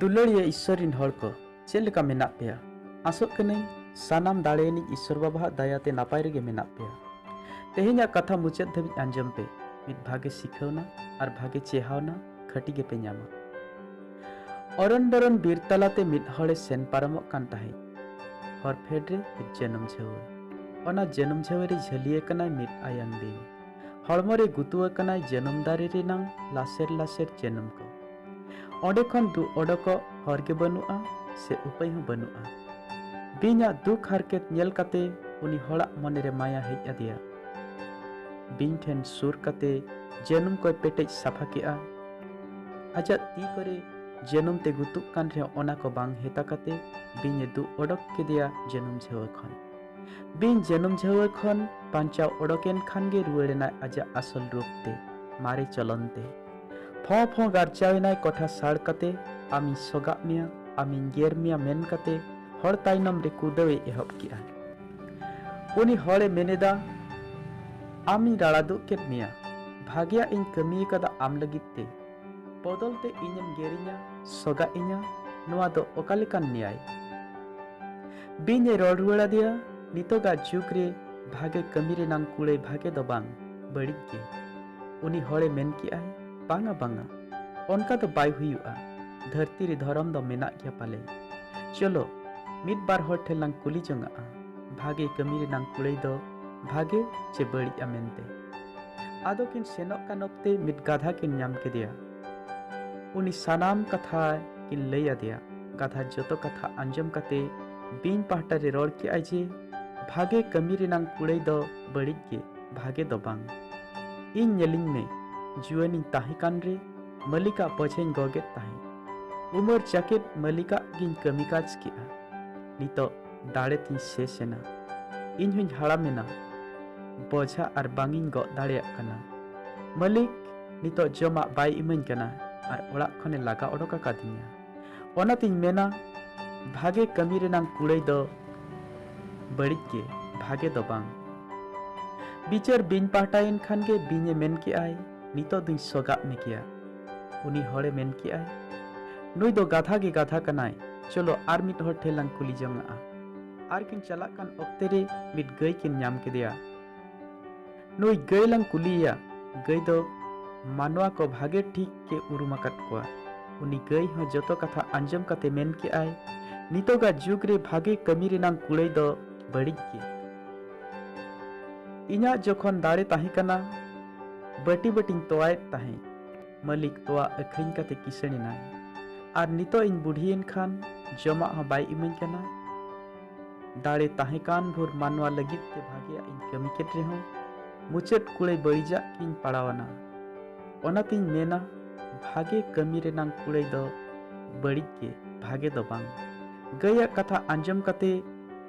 ᱫᱩᱞᱟᱹᱲᱤᱭᱟᱹ ᱤᱥᱥᱚᱨ ᱨᱤᱱ ᱦᱚᱲ ᱠᱚ ᱪᱮᱫ ᱞᱮᱠᱟ ᱢᱮᱱᱟᱜ ᱯᱮᱭᱟ ᱟᱥᱚᱜ ᱠᱟᱹᱱᱟᱹᱧ ᱥᱟᱱᱟᱢ ᱫᱟᱲᱮᱭᱟᱱᱤᱡ ᱤᱥᱥᱚᱨ ᱵᱟᱵᱟᱣᱟᱜ ᱫᱟᱭᱟ ᱛᱮ ᱱᱟᱯᱟᱭ ᱨᱮᱜᱮ ᱢᱮᱱᱟᱜ ᱯᱮᱭᱟ ᱛᱮᱦᱮᱧᱟᱜ ᱠᱟᱛᱷᱟ ᱢᱩᱪᱟᱹᱫ ᱫᱷᱟᱹᱵᱤᱡ ᱟᱸᱡᱚᱢ ᱯᱮ ᱢᱤᱫ ᱵᱷᱟᱜᱮ ᱥᱤᱠᱷᱟᱹᱣᱱᱟ ᱟᱨ ᱵᱷᱟᱜᱮ ᱪᱮᱦᱟᱣᱱᱟ ᱠᱷᱟᱹᱴᱤ ᱜᱮᱯᱮ ᱧᱟᱢᱟ ᱚᱨᱚᱱ ᱵᱚᱨᱚᱱ ᱵᱤᱨ ᱛᱟᱞᱟᱛᱮ ᱢᱤᱫ ᱦᱚᱲᱮ ᱥᱮᱱ ᱯᱟᱨᱚᱢᱚᱜ ᱠᱟᱱ ᱛᱟᱦᱮᱸᱫ ᱦᱚᱨ ᱯᱷᱮᱰ ᱨᱮ ᱢᱤᱫ ᱡᱟᱹᱱᱩᱢ ᱡᱷᱟᱹᱣᱟᱹ ᱚᱱᱟ ᱡᱟᱹᱱᱩᱢ ᱡᱷᱟᱹᱣᱟᱹ ᱨᱮ ᱡᱷᱟᱹᱞᱤ ᱟᱠᱟᱱᱟᱭ ᱢᱤᱫ ᱟᱭᱟᱝ ᱵᱤᱧ ᱦᱚᱲᱢᱚ ᱨᱮ ᱜᱩᱛᱩ ᱟᱠᱟᱱᱟ ᱡᱟᱹᱱᱩᱢ ᱫᱟᱨᱮ ᱨᱮᱱᱟᱝ ᱞᱟᱥᱮᱨ ᱞᱟᱥᱮᱨ ᱡᱟᱹᱱᱩᱢ ᱠᱚ ᱚᱸᱰᱮ ᱠᱷᱚᱱ ᱫᱩᱜ ᱚᱰᱚᱠᱚᱜ ᱦᱚᱨ ᱜᱮ ᱵᱟᱹᱱᱩᱜᱼᱟ ᱥᱮ ᱩᱯᱟᱹᱭ ᱦᱚᱸ ᱵᱟᱹᱱᱩᱜᱼᱟ ᱵᱤᱧᱟᱜ ᱫᱩᱠ ᱦᱟᱨᱠᱮᱛ ᱧᱮᱞ ᱠᱟᱛᱮ ᱩᱱᱤ ᱦᱚᱲᱟᱜ ᱢᱚᱱᱮ ᱨᱮ ᱢᱟᱭᱟ ᱦᱮᱡ ᱟᱫᱮᱭᱟ ᱵᱤᱧ ᱴᱷᱮᱱ ᱥᱩᱨ ᱠᱟᱛᱮ ᱡᱟᱹᱱᱩᱢ ᱠᱚᱭ ᱯᱮᱴᱮᱡ ᱥᱟᱯᱷᱟ ᱠᱮᱜᱼᱟ ᱟᱡᱟᱜ ᱛᱤ ᱠᱚᱨᱮ ᱡᱟᱹᱱᱩᱢ ᱛᱮ ᱜᱩᱛᱩᱜ ᱠᱟᱱ ᱨᱮᱦᱚᱸ ᱚᱱᱟ ᱠᱚ ᱵᱟᱝ ᱦᱮᱛᱟ ᱠᱟᱛᱮ ᱵᱤᱧᱮ ᱫᱩᱜ ᱚᱰᱚᱠ ᱠᱮᱫᱮᱭᱟ ᱡᱟᱹᱱᱩᱢ ᱡᱷᱟᱹᱣᱟᱹ ᱠᱷᱚᱱ ᱵᱤᱧ ᱡᱟᱹᱱᱩᱢ ᱡᱷᱟᱹᱣᱟᱹ ᱠᱷᱚᱱ ᱵᱟᱧᱪᱟᱣ ᱚᱰᱚᱠᱮᱱ ᱠᱷᱟᱱ ᱜᱮ ᱨᱩᱣᱟᱹᱲ ᱮᱱᱟᱭ ᱟᱡᱟᱜ ᱟᱥᱚᱞ ᱨᱩᱯ ᱛᱮ ᱢᱟᱨᱮ ᱪᱚᱞᱚᱱ ᱛᱮ ᱯᱷᱚᱸ ᱯᱷᱚᱸ ᱜᱟᱨᱪᱟᱣ ᱮᱱᱟᱭ ᱠᱚᱴᱷᱟ ᱥᱟᱲ ᱠᱟᱛᱮ ᱟᱢᱤᱧ ᱥᱚᱜᱟᱜ ᱢᱮᱭᱟ ᱟᱢᱤᱧ ᱜᱮᱨ ᱢᱮᱭᱟ ᱢᱮᱱ ᱠᱟᱛᱮ ᱦᱚᱲ ᱛᱟᱭᱱᱚᱢ ᱨᱮ ᱠᱩᱫᱟᱹᱣ ᱮ ᱮᱦᱚᱵ ᱠᱮᱜᱼᱟ ᱩᱱᱤ ᱦᱚᱲ ᱮ ᱢᱮᱱ ᱮᱫᱟ ᱟᱢᱤᱧ ᱨᱟᱲᱟ ᱫᱩᱜ ᱠᱮᱫ ᱢᱮᱭᱟ ᱵᱷᱟᱜᱮᱭᱟᱜ ᱤᱧ ᱠᱟᱹᱢᱤ ᱟᱠᱟᱫᱟ ᱟᱢ ᱞᱟᱹᱜᱤᱫ ᱛᱮ ᱵᱚᱫᱚᱞ ᱛᱮ ᱤᱧᱮᱢ ᱜᱮᱨᱤᱧᱟ ᱥᱚᱜᱟ ᱤᱧᱟ ᱱᱚᱣᱟ ᱫᱚ ᱚᱠᱟ ᱞᱮᱠᱟᱱ ᱱᱮᱭᱟᱭ ᱵᱤᱧ ᱮ ᱨᱚᱲ ᱨᱩᱣᱟᱹᱲ ᱟᱫᱮᱭᱟ ᱱᱤᱛᱚᱜᱟᱜ ᱡᱩᱜᱽ ᱨᱮ ᱵᱷᱟᱜᱮ ᱠᱟᱹᱢᱤ ᱨᱮᱱᱟᱝ ᱠᱩᱲᱟᱹᱭ ᱵᱷᱟᱜᱮ ᱫᱚ ᱵᱟᱝ ᱵᱟᱹᱲᱤᱡ ᱜᱮ ᱩᱱᱤ ᱦᱚᱲᱮ ᱢᱮᱱ ᱠᱮᱜᱼᱟᱭ ᱵᱟᱝᱟ ᱵᱟᱝᱟ ᱚᱱᱠᱟ ᱫᱚ ᱵᱟᱭ ᱦᱩᱭᱩᱜᱼᱟ ᱫᱷᱟᱹᱨᱛᱤ ᱨᱮ ᱫᱷᱚᱨᱚᱢ ᱫᱚ ᱢᱮᱱᱟᱜ ᱜᱮᱭᱟ ᱯᱟᱞᱮ ᱪᱚᱞᱚ ᱢᱤᱫ ᱵᱟᱨ ᱦᱚᱲ ᱴᱷᱮᱱ ᱞᱟᱝ ᱠᱩᱞᱤ ᱡᱚᱝᱟᱜᱼᱟ ᱵᱷᱟᱜᱮ ᱠᱟᱹᱢᱤ ᱨᱮᱱᱟᱝ ᱠᱩᱲᱟᱹᱭ ᱫᱚ ᱵᱷᱟᱜᱮ ᱪᱮ ᱵᱟᱹᱲᱤᱡᱼᱟ ᱢᱮᱱᱛᱮ ᱟᱫᱚ ᱠᱤᱱ ᱥᱮᱱᱚᱜ ᱠᱟᱱ ᱚᱠᱛᱮ ᱢᱤᱫ ᱜᱟᱫᱷᱟ ᱠᱤᱱ ᱧᱟᱢ ᱠᱮᱫᱮᱭᱟ ᱩᱱᱤ ᱥᱟᱱᱟᱢ ᱠᱟᱛᱷᱟ ᱠᱤᱱ ᱞᱟᱹᱭ ᱟᱫᱮᱭᱟ ᱜᱟᱫᱷᱟ ᱡᱚᱛᱚ ᱠᱟᱛᱷᱟ ᱟᱸᱡᱚᱢ ᱠᱟᱛᱮ ᱵᱤᱧ ᱯᱟᱦᱴᱟ ᱨᱮ ᱨᱚᱲ ᱠᱮᱜᱼᱟᱭ ᱡᱮ ᱵᱷᱟᱜᱮ ᱠᱟᱹᱢᱤ ᱨᱮᱱᱟᱝ ᱠᱩᱲᱟᱹᱭ ᱫᱚ ᱵᱟᱹᱲᱤᱡ ᱜᱮ ᱵᱷᱟᱜᱮ ᱫᱚ ᱵᱟᱝ ᱤᱧ ᱧᱮᱞᱤᱧ ᱢᱮ ᱡᱩᱣᱟᱹᱱᱤᱧ ᱛᱟᱦᱮᱸ ᱠᱟᱱ ᱨᱮ ᱢᱟᱹᱞᱤᱠᱟᱜ ᱯᱚᱡᱷᱮᱧ ᱜᱚᱜᱮᱫ ᱛᱟᱦᱮᱸᱫ ᱩᱢᱟᱹᱨ ᱡᱟᱠᱮᱛ ᱢᱟᱹᱞᱤᱠᱟᱜ ᱜᱤᱧ ᱠᱟᱹᱢᱤ ᱠᱟᱡᱽ ᱠᱮᱜᱼᱟ ᱱᱤᱛᱚᱜ ᱫᱟᱲᱮ ᱛᱤᱧ ᱥᱮᱥ ᱮᱱᱟ ᱤᱧ ᱦᱚᱧ ᱦᱟᱲᱟᱢ ᱮᱱᱟ ᱵᱚᱡᱷᱟ ᱟᱨ ᱵᱟᱝ ᱤᱧ ᱜᱚᱜ ᱫᱟᱲᱮᱭᱟᱜ ᱠᱟᱱᱟ ᱢᱟᱹᱞᱤᱠ ᱱᱤᱛᱚᱜ ᱡᱚᱢᱟᱜ ᱵᱟᱭ ᱤᱢᱟᱹᱧ ᱠᱟᱱᱟ ᱟᱨ ᱚᱲᱟᱜ ᱠᱷᱚᱱᱮ ᱞᱟᱜᱟ ᱚᱰᱚᱠ ᱟᱠᱟᱫᱤᱧᱟ ᱚᱱᱟᱛᱤᱧ ᱢᱮᱱᱟ ᱵᱷᱟᱜᱮ ᱠᱟᱹᱢᱤ ᱨᱮᱱᱟᱝ ᱠᱩᱲᱟᱹᱭ ᱫᱚ ᱵᱟᱹᱲᱤᱡ ᱜᱮ ᱵᱷᱟᱜᱮ ᱫᱚ ᱵᱟᱝ ᱵᱤᱪᱟᱹᱨ ᱵᱤᱧ ᱯᱟᱦᱴᱟᱭᱮᱱ ᱠᱷᱟᱱ ᱜᱮ ᱵᱤᱧᱮ ᱢᱮᱱ ᱠᱮᱜᱼᱟᱭ ᱱᱤᱛᱚᱜ ᱫᱩᱧ ᱥᱚᱜᱟᱜ ᱢᱮ ᱜᱮᱭᱟ ᱩᱱᱤ ᱦᱚᱲᱮ ᱢᱮᱱ ᱠᱮᱜᱼᱟᱭ ᱱᱩᱭ ᱫᱚ ᱜᱟᱫᱷᱟ ᱜᱮ ᱜᱟᱫᱷᱟ ᱠᱟᱱᱟᱭ ᱪᱚᱞᱚ ᱟᱨ ᱢᱤᱫ ᱦᱚᱲ ᱴᱷᱮᱱ ᱞᱟᱝ ᱠᱩᱞᱤ ᱡᱚᱝᱟᱜᱼᱟ ᱟᱨ ᱠᱤᱱ ᱪᱟᱞᱟᱜ ᱠᱟᱱ ᱚᱠᱛᱮ ᱨᱮ ᱢᱤᱫ ᱜᱟᱹᱭ ᱠᱤᱱ ᱧᱟᱢ ᱠᱮᱫᱮᱭᱟ ᱱᱩᱭ ᱜᱟᱹᱭ ᱞᱟᱝ ᱠᱩᱞᱤᱭᱮᱭᱟ ᱜᱟᱹᱭ ᱫᱚ ᱢᱟᱱᱣᱟ ᱠᱚ ᱵᱷᱟᱜᱮ ᱴᱷᱤᱠ ᱜᱮ ᱩᱨᱩᱢ ᱟᱠᱟᱫ ᱠᱚᱣᱟ ᱩᱱᱤ ᱜᱟᱹᱭ ᱦᱚᱸ ᱡᱚᱛᱚ ᱠᱟᱛᱷᱟ ᱟᱸᱡᱚᱢ ᱠᱟᱛᱮ ᱢᱮᱱ ᱠᱮᱜᱼᱟᱭ ᱱᱤᱛᱚᱜᱟᱜ ᱡᱩᱜᱽ ᱨᱮ ᱵᱷᱟᱜᱮ ᱠᱟᱹᱢᱤ ᱨᱮᱱᱟᱝ ᱠᱩᱲᱟᱹᱭ ᱫᱚ ᱵᱟᱹᱲᱤᱡ ᱜᱮ ᱤᱧᱟᱹᱜ ᱡᱚᱠᱷᱚᱱ ᱫᱟᱲᱮ ᱛᱟᱦᱮᱸ ᱠᱟᱱᱟ ᱵᱟᱹᱴᱤ ᱵᱟᱹᱴᱤᱧ ᱛᱚᱣᱟᱭᱮᱫ ᱛᱟᱦᱮᱸᱫ ᱢᱟᱹᱞᱤᱠ ᱛᱚᱣᱟ ᱟᱹᱠᱷᱨᱤᱧ ᱠᱟᱛᱮ ᱠᱤᱥᱟᱹᱬ ᱮᱱᱟᱭ ᱟᱨ ᱱᱤᱛᱚᱜ ᱤᱧ ᱵᱩᱰᱷᱤᱭᱮᱱ ᱠᱷᱟᱱ ᱡᱚᱢᱟᱜ ᱦᱚᱸ ᱵᱟᱭ ᱤᱢᱟᱹᱧ ᱠᱟᱱᱟ ᱫᱟᱲᱮ ᱛᱟᱦᱮᱸ ᱠᱟᱱ ᱵᱷᱳᱨ ᱢᱟᱱᱣᱟ ᱞᱟᱹᱜᱤᱫ ᱛᱮ ᱵᱷᱟᱜᱮᱭᱟᱜ ᱤᱧ ᱠᱟᱹᱢᱤ ᱠᱮᱫ ᱨᱮᱦᱚᱸ ᱢᱩᱪᱟᱹᱫ ᱠᱩᱲᱟᱹᱭ ᱵᱟᱹᱲᱤᱡᱟᱜ ᱜᱤᱧ ᱯᱟᱲᱟᱣᱟᱱᱟ ᱚᱱᱟᱛᱤᱧ ᱢᱮᱱᱟ ᱵᱷᱟᱜᱮ ᱠᱟᱹᱢᱤ ᱨᱮᱱᱟᱝ ᱠᱩᱲᱟᱹᱭ ᱫᱚ ᱵᱟᱹᱲᱤᱡ ᱜᱮ ᱵᱷᱟᱜᱮ ᱫᱚ ᱵᱟᱝ ᱜᱟᱹᱭᱟᱜ ᱠᱟᱛᱷᱟ ᱟᱸᱡᱚᱢ ᱠᱟᱛᱮ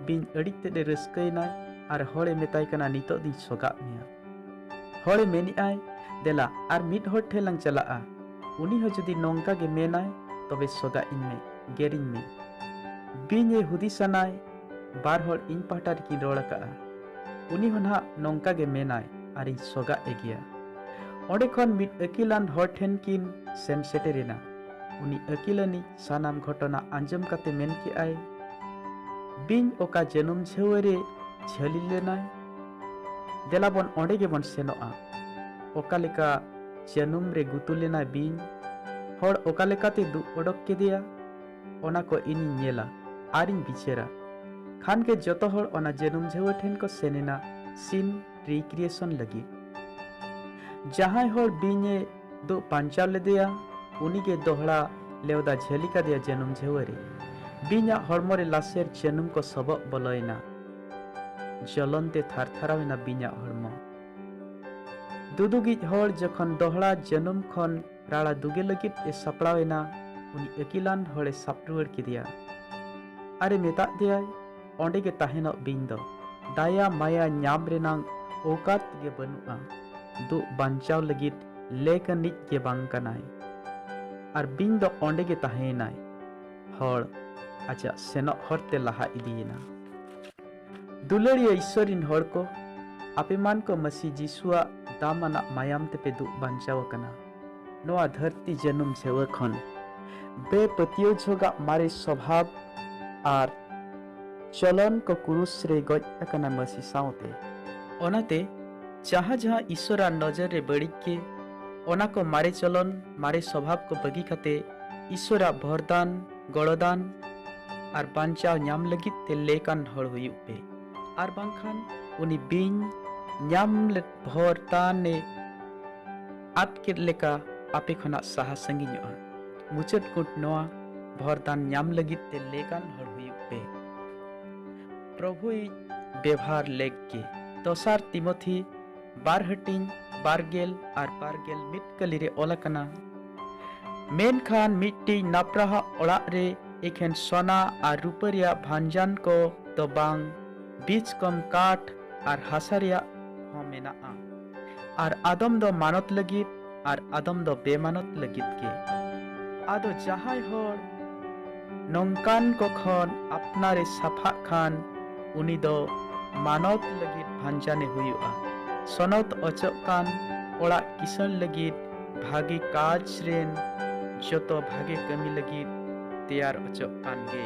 ᱵᱤᱧ ᱟᱹᱰᱤ ᱛᱮᱫ ᱮ ᱨᱟᱹᱥᱠᱟᱹᱭᱮᱱᱟᱭ ᱟᱨ ᱦᱚᱲᱮ ᱢᱮᱛᱟᱭ ᱠᱟᱱᱟ ᱱᱤᱛᱚᱜ ᱫᱩᱧ ᱥᱚᱜᱟᱜ ᱢᱮᱭᱟ ᱦᱚᱲᱮ ᱢᱮᱱᱮᱜᱼᱟᱭ ᱫᱮᱞᱟ ᱟᱨ ᱢᱤᱫ ᱦᱚᱲ ᱴᱷᱮᱱ ᱞᱟᱝ ᱪᱟᱞᱟᱜᱼᱟ ᱩᱱᱤ ᱦᱚᱸ ᱡᱩᱫᱤ ᱱᱚᱝᱠᱟ ᱜᱮ ᱢᱮᱱᱟᱭ ᱛᱚᱵᱮ ᱥᱚᱜᱟᱜ ᱤᱧ ᱢᱮ ᱜᱮᱨᱤᱧ ᱢᱮ ᱵᱤᱧ ᱮ ᱦᱩᱫᱤᱥᱟᱱᱟᱭ ᱵᱟᱨ ᱦᱚᱲ ᱤᱧ ᱯᱟᱦᱴᱟ ᱨᱮᱠᱤᱱ ᱨᱚᱲ ᱟᱠᱟᱜᱼᱟ ᱩᱱᱤ ᱦᱚᱸ ᱱᱟᱦᱟᱜ ᱱᱚᱝᱠᱟ ᱜᱮ ᱢᱮᱱᱟᱭ ᱟᱨ ᱤᱧ ᱥᱚᱜᱟᱜ ᱮ ᱜᱮᱭᱟ ᱚᱸᱰᱮ ᱠᱷᱚᱱ ᱢᱤᱫ ᱟᱹᱠᱤᱞᱟᱱ ᱦᱚᱲ ᱴᱷᱮᱱ ᱠᱤᱱ ᱥᱮᱱ ᱥᱮᱴᱮᱨᱮᱱᱟ ᱩᱱᱤ ᱟᱹᱠᱤᱞᱟᱹᱱᱤᱡ ᱥᱟᱱᱟᱢ ᱜᱷᱚᱴᱚᱱᱟ ᱟᱸᱡᱚᱢ ᱠᱟᱛᱮ ᱢᱮᱱ ᱠᱮᱜᱼᱟᱭ ᱵᱤᱧ ᱚᱠᱟ ᱡᱟᱹᱱᱩᱢ ᱡᱷᱟᱹᱣᱟᱹ ᱨᱮ ᱡᱷᱟᱹᱞᱤ ᱞᱮᱱᱟᱭ ᱫᱮᱞᱟ ᱵᱚᱱ ᱚᱸᱰᱮ ᱜᱮᱵᱚᱱ ᱥᱮᱱᱚᱜᱼᱟ ᱚᱠᱟ ᱞᱮᱠᱟ ᱡᱟᱹᱱᱩᱢ ᱨᱮ ᱜᱩᱛᱩ ᱞᱮᱱᱟ ᱵᱤᱧ ᱦᱚᱲ ᱚᱠᱟ ᱞᱮᱠᱟᱛᱮ ᱫᱩᱜ ᱚᱰᱚᱠ ᱠᱮᱫᱮᱭᱟ ᱚᱱᱟ ᱠᱚ ᱤᱧᱤᱧ ᱧᱮᱞᱟ ᱟᱨᱤᱧ ᱵᱤᱪᱟᱹᱨᱟ ᱠᱷᱟᱱ ᱜᱮ ᱡᱚᱛᱚ ᱦᱚᱲ ᱚᱱᱟ ᱡᱟᱹᱱᱩᱢ ᱡᱷᱟᱹᱣᱟᱹ ᱴᱷᱮᱱ ᱠᱚ ᱥᱮᱱ ᱮᱱᱟ ᱥᱤᱱ ᱨᱤᱠᱨᱤᱭᱮᱥᱚᱱ ᱞᱟᱹᱜᱤᱫ ᱡᱟᱦᱟᱸᱭ ᱦᱚᱲ ᱵᱤᱧᱮ ᱫᱩᱜ ᱯᱟᱧᱪᱟᱣ ᱞᱮᱫᱮᱭᱟ ᱩᱱᱤᱜᱮ ᱫᱚᱦᱲᱟ ᱞᱮᱣᱫᱟ ᱡᱷᱟᱹᱞᱤ ᱠᱟᱫᱮᱭᱟ ᱡᱟᱹᱱᱩᱢ ᱡᱷᱟᱹᱣᱟᱹ ᱨᱮ ᱵᱤᱧᱟᱜ ᱦᱚᱲᱢᱚ ᱨᱮ ᱞᱟᱥᱮᱨ ᱡᱟᱹᱱᱩᱢ ᱠᱚ ᱥᱚᱵᱚᱜ ᱵᱚᱞᱚᱭᱮᱱᱟ ᱡᱚᱞᱚᱱ ᱛᱮ ᱛᱷᱟᱨᱛᱷᱟᱨᱟᱣ ᱮᱱᱟ ᱵᱤᱧᱟᱜ ᱦᱚᱲᱢᱚ᱾ ᱫᱩᱫᱩᱜᱤᱡ ᱦᱚᱲ ᱡᱚᱠᱷᱚᱱ ᱫᱚᱦᱲᱟ ᱡᱟᱹᱱᱩᱢ ᱠᱷᱚᱱ ᱨᱟᱲᱟ ᱫᱩᱜᱮ ᱞᱟᱹᱜᱤᱫ ᱮ ᱥᱟᱯᱲᱟᱣ ᱮᱱᱟ ᱩᱱᱤ ᱟᱹᱠᱤᱞᱟᱱ ᱦᱚᱲ ᱮ ᱥᱟᱵ ᱨᱩᱣᱟᱹᱲ ᱠᱮᱫᱮᱭᱟ ᱟᱨ ᱮ ᱢᱮᱛᱟᱫ ᱫᱮᱭᱟᱭ ᱚᱸᱰᱮ ᱜᱮ ᱛᱟᱦᱮᱸᱱᱚᱜ ᱵᱤᱧ ᱫᱚ ᱫᱟᱭᱟ ᱢᱟᱭᱟ ᱧᱟᱢ ᱨᱮᱱᱟᱝ ᱚᱣᱠᱟᱛ ᱜᱮ ᱵᱟᱹᱱᱩᱜᱼᱟ ᱫᱩᱜ ᱵᱟᱧᱪᱟᱣ ᱞᱟᱹᱜᱤᱫ ᱞᱮᱠ ᱟᱹᱱᱤᱡ ᱜᱮ ᱵᱟᱝ ᱠᱟᱱᱟᱭ ᱟᱨ ᱵᱤᱧ ᱫᱚ ᱚᱸᱰᱮ ᱜᱮ ᱛᱟᱦᱮᱸ ᱮᱱᱟᱭ᱾ ᱦᱚᱲ ᱟᱡᱟᱜ ᱥᱮᱱᱚᱜ ᱦᱚᱨ ᱛᱮ ᱞᱟᱦᱟ ᱤᱫᱤᱭᱮᱱᱟ ᱫᱩᱞᱟᱹᱲᱤᱭᱟᱹ ᱤᱥᱥᱚᱨ ᱨᱤᱱ ᱦᱚᱲ ᱠᱚ ᱟᱯᱮ ᱢᱟᱱ ᱠᱚ ᱢᱟᱹᱥᱤ ᱡᱤᱥᱩᱣᱟᱜ ᱫᱟᱢᱟᱱᱟᱜ ᱢᱟᱭᱟᱢ ᱛᱮᱯᱮ ᱫᱩᱜ ᱵᱟᱧᱪᱟᱣ ᱟᱠᱟᱱᱟ ᱱᱚᱣᱟ ᱫᱷᱟᱹᱨᱛᱤ ᱡᱟᱹᱱᱩᱢ ᱡᱷᱮᱣᱟᱹ ᱠᱷᱚᱱ ᱵᱮᱯᱟᱹᱛᱭᱟᱹᱣ ᱡᱷᱚᱜᱟᱜ ᱢᱟᱨᱮ ᱥᱚᱵᱷᱟᱵ ᱟᱨ ᱪᱚᱞᱚᱱ ᱠᱚ ᱠᱩᱨᱩᱥ ᱨᱮ ᱜᱚᱡ ᱟᱠᱟᱱᱟ ᱢᱟᱹᱥᱤ ᱥᱟᱶᱛᱮ ᱚᱱᱟᱛᱮ ᱡᱟᱦᱟᱸ ᱡᱟᱦᱟᱸ ᱤᱥᱥᱚᱨᱟᱜ ᱱᱚᱡᱚᱨ ᱨᱮ ᱵᱟᱹᱲᱤᱡ ᱜᱮ ᱚᱱᱟ ᱠᱚ ᱢᱟᱨᱮ ᱪᱚᱞᱚᱱ ᱢᱟᱨᱮ ᱥᱚᱵᱷᱟᱵ ᱠᱚ ᱵᱟᱹᱜᱤ ᱠᱟᱛᱮ ᱤᱥᱚᱨᱟᱜ ᱵᱷᱚᱨᱫᱟᱱ ᱜᱚᱲᱚᱫᱟᱱ ᱟᱨ ᱵᱟᱧᱪᱟᱣ ᱧᱟᱢ ᱞᱟᱹᱜᱤᱫ ᱛᱮ ᱞᱮᱠᱟᱱ ᱦᱚᱲ ᱦᱩᱭᱩᱜ ᱯᱮ ᱟᱨ ᱵᱟᱝᱠᱷᱟᱱ ᱩᱱᱤ ᱵᱤᱧ ᱧᱟᱢ ᱵᱷᱚᱨᱫᱟᱱᱮ ᱟᱫ ᱠᱮᱫ ᱞᱮᱠᱟ ᱟᱯᱮ ᱠᱷᱚᱱᱟᱜ ᱥᱟᱦᱟ ᱥᱟᱺᱜᱤᱧᱚᱜᱼᱟ ᱢᱩᱪᱟᱹᱫ ᱠᱩᱴ ᱱᱚᱣᱟ ᱵᱷᱚᱨᱫᱟᱱ ᱧᱟᱢ ᱞᱟᱹᱜᱤᱫ ᱛᱮ ᱞᱮᱠᱟᱱ ᱦᱚᱲ ᱦᱩᱭᱩᱜ ᱯᱮ ᱯᱨᱚᱵᱷᱩᱭ ᱵᱮᱵᱷᱟᱨ ᱞᱮᱠ ᱜᱮ ᱫᱚᱥᱟᱨ ᱛᱤᱢᱚᱛᱷᱤ ᱵᱟᱨ ᱦᱟᱹᱴᱤᱧ ᱵᱟᱨᱜᱮᱞ ᱟᱨ ᱵᱟᱨᱜᱮᱞ ᱢᱤᱫ ᱠᱟᱹᱞᱤ ᱨᱮ ᱚᱞ ᱟᱠᱟᱱᱟ ᱢᱮᱱᱠᱷᱟᱱ ᱢᱤᱫᱴᱤᱡ ᱱᱟᱯᱨᱟᱦᱟᱜ ᱚᱲᱟᱜ ᱨᱮ ᱮᱠᱷᱮᱱ ᱥᱚᱱᱟ ᱟᱨ ᱨᱩᱯᱟᱹ ᱨᱮᱭᱟᱜ ᱵᱷᱟᱱᱡᱟᱱ ᱠᱚ ᱫᱚ ᱵᱟᱝ, ᱵᱤᱪ ᱠᱚᱢ ᱠᱟᱴ ᱟᱨ ᱦᱟᱥᱟ ᱨᱮᱭᱟᱜ ᱦᱚᱸ ᱢᱮᱱᱟᱜᱼᱟ᱾ ᱟᱨ ᱟᱫᱚᱢ ᱫᱚ ᱢᱟᱱᱚᱛ ᱞᱟᱹᱜᱤᱫ ᱟᱨ ᱟᱫᱚᱢ ᱫᱚ ᱵᱮᱢᱟᱱᱚᱛ ᱞᱟᱹᱜᱤᱫ ᱜᱮ᱾ ᱟᱫᱚ ᱡᱟᱦᱟᱸᱭ ᱦᱚᱲ ᱱᱚᱝᱠᱟᱱ ᱠᱚ ᱠᱷᱚᱱ ᱟᱯᱱᱟᱨᱮ ᱥᱟᱯᱷᱟᱜ ᱠᱷᱟᱱ ᱩᱱᱤ ᱫᱚ ᱢᱟᱱᱚᱛ ᱞᱟᱹᱜᱤᱫ ᱵᱷᱟᱱᱡᱟᱱᱮ ᱦᱩᱭᱩᱜᱼᱟ᱾ ᱥᱚᱱᱚᱛ ᱚᱪᱚᱜ ᱠᱟᱱ ᱚᱲᱟᱜ ᱠᱤᱥᱟᱹᱬ ᱞᱟᱹᱜᱤᱫ ᱵᱷᱟᱜᱮ ᱠᱟᱡᱽ ᱨᱮᱱ ᱡᱚᱛᱚ ᱵᱷᱟᱜᱮ ᱠᱟᱹᱢᱤ ᱞᱟᱹᱜᱤᱫ ᱛᱮᱭᱟᱨ ᱚᱪᱚᱜ ᱠᱟᱱ ᱜᱮ